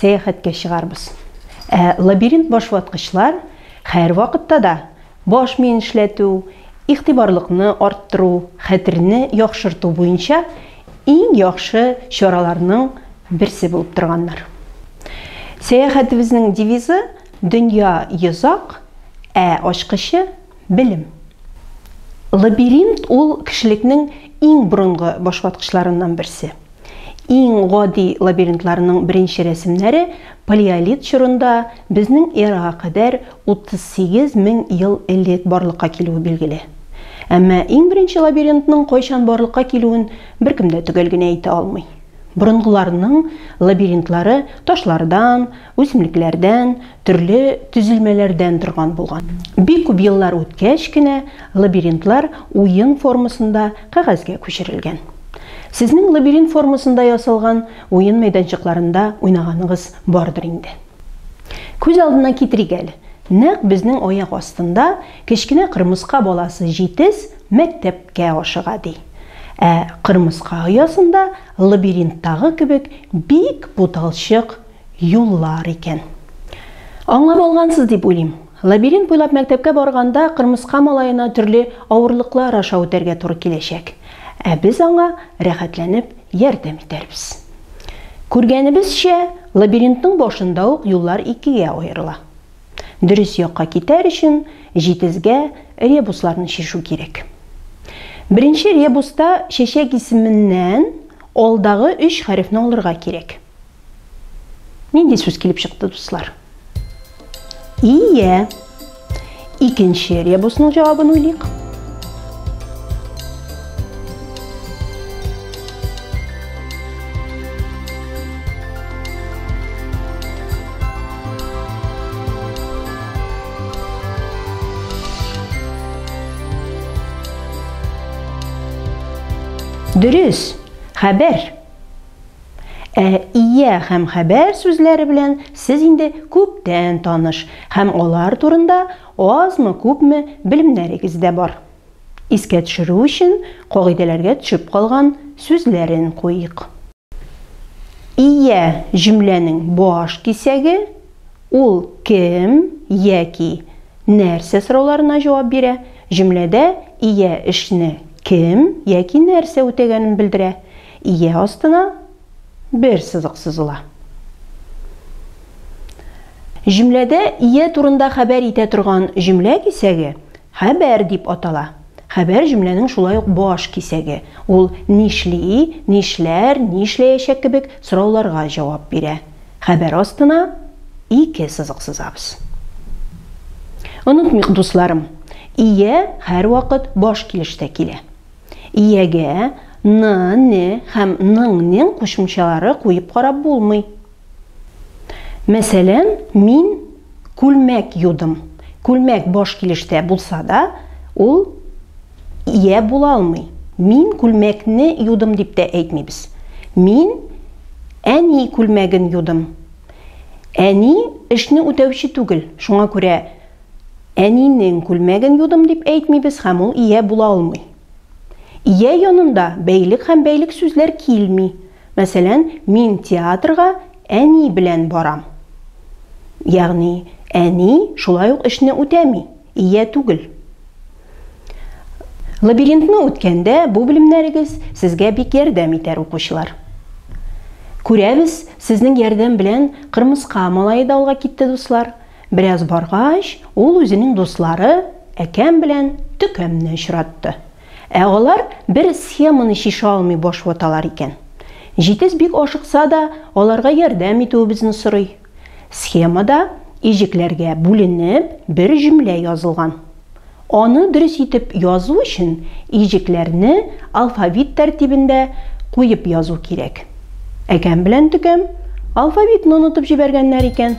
Сәяхәткә чыгарбыз. Ә лабиринт башваткычлар хәрвакытта да баш миен эшләтү, игътибарлыкны арттыру, хәтерне яхшырту буенча иң яхшы чараларның берсе булып торганнар. Сәяхәтебезнең девизы, Дөнья йозак, ә ачкычы, белем. Лабиринт ул кешелекнең иң борынгы башваткычларыннан берсе. Иң гади лабиринтларның беренче рәсемнәре палеолит чорында безнең эрага кадәр 38 мең ел элек барлыкка килүе билгеле. Әмма иң беренче лабиринтның кайчан барлыкка килүен беркем дә төгәл генә әйтә алмый. Борынгыларның лабиринтлары ташлардан, Үсемлекләрдән, төрле төзелмәләрдән торган булган. Бик күп еллар үткәч кенә лабиринтлар уен формасында кәгазьгә күчерелгән. Сезнең лабиринт формасында ясалган уен мәйданчыкларында уйнаганыгыз бардыр инде. Күз алдына китерик әле, нәкъ безнең аяк астында кечкенә кырмыска баласы җитез мәктәпкә ашыга, ди. Ә кырмыска оясында лабиринттагы кебек бик буталчык юллар икән. Аңлап алгансыз дип уйлыйм. Лабиринт буйлап мәктәпкә барганда кырмыска малаена төрле авырлыклар аша үтәргә туры киләчәк. Ә без аңа рәхәтләнеп ярдәм итәрбез. Күргәнебезчә, лабиринтның башында ук юллар икегә аерыла. Дөрес якка китәр өчен җитезгә ребусларны чишү кирәк. Беренче ребуста чәчәк исеменнән алдагы өч хәрефне алырга кирәк. Нинди сүз килеп чыкты, дуслар? Ие. Икенче ребусның җавабын уйлыйк. Дөрес, хәбәр. Ә ия һәм хәбәр сүзләре белән сез инде күптән таныш һәм алар турында азмы-күпме белемнәрегез дә бар. Искә төшерү өчен кагыйдәләргә төшеп калган сүзләрен куйыйк. Ия җөмләнең баш кисәге, ул кем яки нәрсә сорауларына җавап бирә, җөмләдә ия эшне кем яки нәрсә үтәгәнен белдерә, Ия астына бер сызык сызыла. Җөмләдә ия турында хәбәр итә торган җөмлә кисәге хәбәр дип атала. Хәбәр җөмләнең шулай ук баш кисәге, ул нишли, нишләр, нишләячәк кебек сорауларга җавап бирә. Хәбәр астына ике сызык сызабыз. Онытмыйк, дусларым, ия һәрвакыт баш килештә килә. Иягә ны, не һәм ның, нең кушымчалары куеп карап булмый. Мәсәлән, мин күлмәк юдым. Күлмәк баш килештә булса да, ул ия була алмый. Мин күлмәкне юдым дип тә әйтмибез. Мин әни күлмәген юдым. Әни эшне үтәүче түгел, шуңа күрә Әнинең күлмәген юдым дип әйтмибез һәм ул ия була алмый. Ия янында бәйлек һәм бәйлек сүзләр килми. Мәсәлән, мин театрга әни белән барам. Ягъни, әни шулай ук эшне үтәми, ия түгел. Лабиринтны үткәндә бу белемнәрегез сезгә бик ярдәм итәр, укучылар. Күрәбез, сезнең ярдәм белән кырмыска малае да алга китте, дуслар. Бераз баргач, ул үзенең дуслары Әкәм белән Төкәмне очратты. Ә алар бер схеманы чишә алмый баш ваталар икән. Җитез бик ашыкса да, аларга ярдәм итүебезне сорый. Схемада иҗекләргә бүленеп бер җөмлә язылган. Аны дөрес итеп язу өчен иҗекләрне алфавит тәртибендә куеп язу кирәк. Әкәм белән төкәм алфавитны онытып җибәргәннәр икән.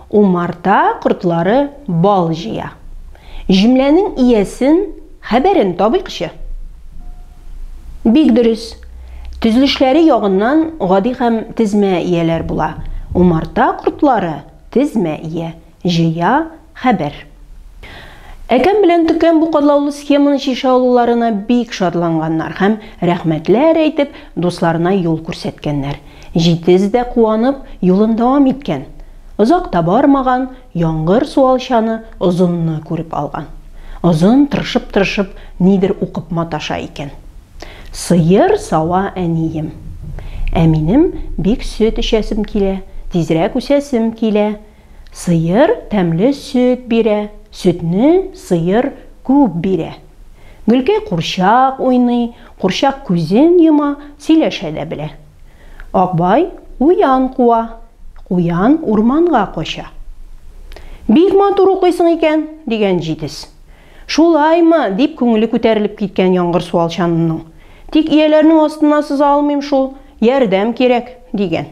Умарта кортлары бал җыя. Җөмләнең иясен, хәбәрен табыйкчы. Бик дөрес. Төзелешләре ягыннан гади һәм тезмә ияләр була. Умарта кортлары, тезмә ия, җыя, хәбәр. Әкәм белән төкәм бу катлаулы схеманы чишә алуларына бик шатланганнар һәм, рәхмәтләр әйтеп, дусларына юл күрсәткәннәр. Җитез дә куанып, юлын дәвам иткән. Озак та бармаган, яңгыр суалчаны Озынны күреп алган. Озын тырышып-тырышып нидер укып маташа икән. Сыер сава әнием. Ә минем бик сөт эчәсем килә, тизрәк үсәсем килә. Сыер тәмле сөт бирә, сөтне сыер күп бирә. Гөлкәй курчак уйный, курчак күзен йома, сөйләшә дә белә. Акбай куян куа, куян урманга кача. Бик матур укыйсың икән, дигән җитез. Шулаймы, дип күңеле күтәрелеп киткән яңгыр суалчанының. Тик ияләрнең астына сыза алмыйм шул, ярдәм кирәк, дигән.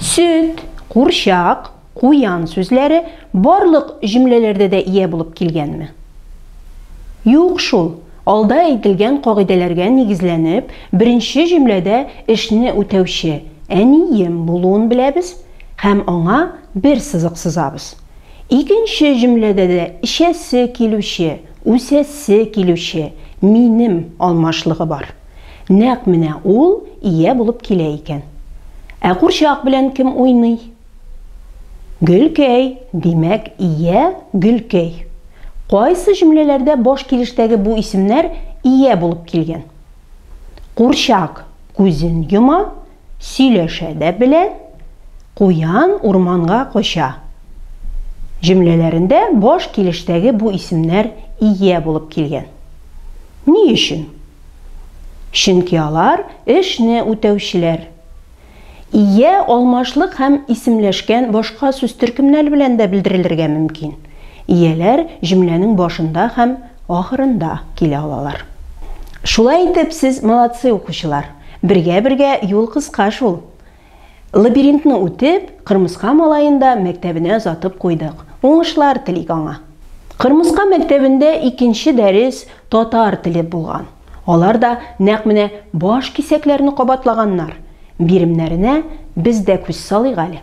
Сөт, курчак, куян сүзләре барлык җөмләләрдә дә ия булып килгәнме? Юк шул. Алда әйтелгән кагыйдәләргә нигезләнеп, беренче җөмләдә эшне үтәүче әнием булуын беләбез һәм аңа бер сызык сызабыз. Икенче җөмләдә дә эчәсе килүче, үсәсе килүче минем алмашлыгы бар. Нәкъ менә ул ия булып килә икән. Ә курчак белән кем уйный? Гөлкәй, димәк, ия Гөлкәй. Кайсы җөмләләрдә баш килештәге бу исемнәр ия булып килгән? Курчак күзен йома, сөйләшә дә белә, Куян урманга кача. Җөмләләрендә баш килештәге бу исемнәр ия булып килгән. Ни өчен? Чөнки алар эшне үтәүчеләр. Ия алмашлык һәм исемләшкән башка сүз төркемнәре белән дә белдерелергә мөмкин. Ияләр җөмләнең башында һәм Ахырында килә алалар. Шулай итеп сез молодцы укучылар. Бергә бергә юл кыска шул. Лабиринтны үтеп, Кырмыска малаен да мәктәбенә озатып куйдык. Уңышлар телик аңа. Кырмыска мәктәбендә икенче дәрес татар теле булган. Алар да нәкъ менә баш кисәкләрне кабатлаганнар. Биремнәренә без дә күз салыйк әле.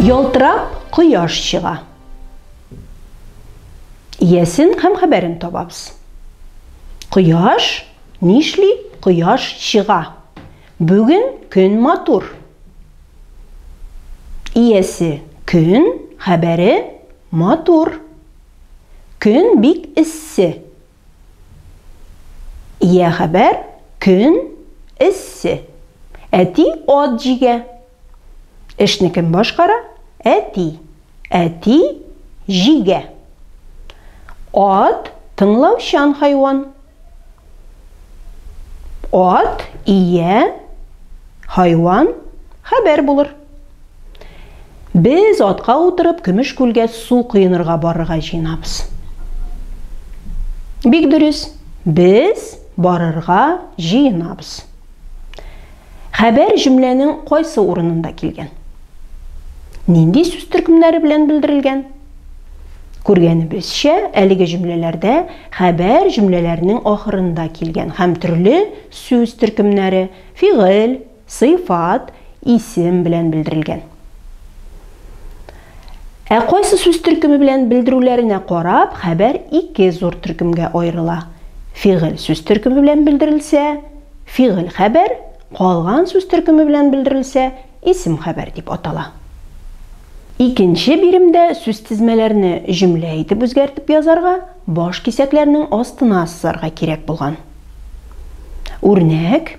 Ялтырап кояш чыга. Иясен һәм хәбәрен табабыз. Кояш нишли? Кояш чыга. Бүген көн матур. Иясе көн, хәбәре матур. Көн бик эссе. Йә хәбәр, көн эссе. Әти ат җигә. Эшне кем башкара? Әти. Әти җигә. Ат, тыңлаучан хайван. Ат, ия, хайван, хәбәр булыр. Без атка утырып Көмеш күлгә су коенырга барырга җыенабыз. Бик дөрес, без барырга җыенабыз. Хәбәр җөмләнең кайсы урынында килгән? Нинди сүз төркемнәре белән белдерелгән? Күргәнебезчә, әлеге җөмләләрдә хәбәр җөмләләрнең ахырында килгән һәм төрле сүз төркемнәре, фигыль, Сыйфат, исем белән белдерелгән. Ә кайсы сүз төркеме белән белдерүләренә карап, хәбәр ике зур төркемгә аерыла. Фигыль сүз төркеме белән белдерелсә, фигыль хәбәр, калган сүз төркеме белән белдерелсә, исем хәбәр дип атала. Икенче биремдә сүзтезмәләрне җөмлә итеп үзгәртеп язарга, баш кисәкләрнең астына сызарга кирәк булган. Үрнәк.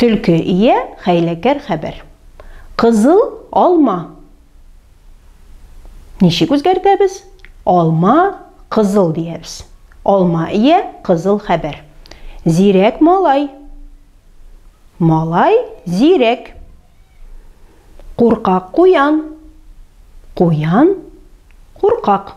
Төлке ия хәйләкәр хәбәр. Кызыл алма. Ничек үзгәртәбез? Алма кызыл диябез. Алма ия кызыл хәбәр. Зирәк малай. Малай зирәк. Куркак куян. Куян куркак.